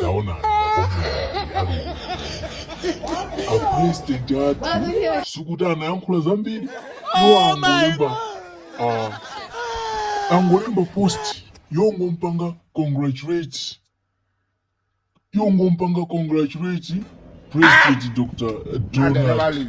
taonani makosana ali apresident athu sikuti anayankhula zambiri iwo angolemba ah, angolemba post yongompanga congratulate yongompanga congratulate president dr donald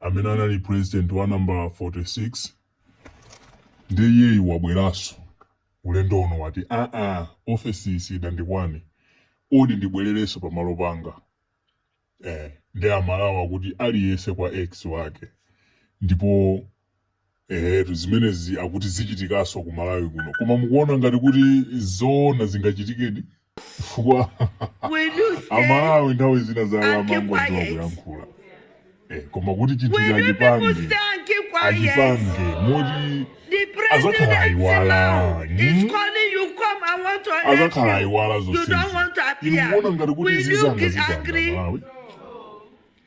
amene anali president wa number 46 ndiye iyeyu wabweraso ulendo uno wati aa ofesiyi sidandikwane odi ndibwerereso pamalo panga eh nde amalawi akuti aliyese kwa ex wake ndipo Eetu zimenezi akuti zichitikaso ku Malawi kuno koma mukuona ngati kuti zoona zingachitikedi? chifukwa a Malawi nthawi zina zawo amangoziwa kuyankhula ee koma kuti chinthucho achipange achipange moti azakhala ayiwala mm? azakhala ayiwala zonsezi inu mukuona ngati kuti izi zangazi pa Malawi?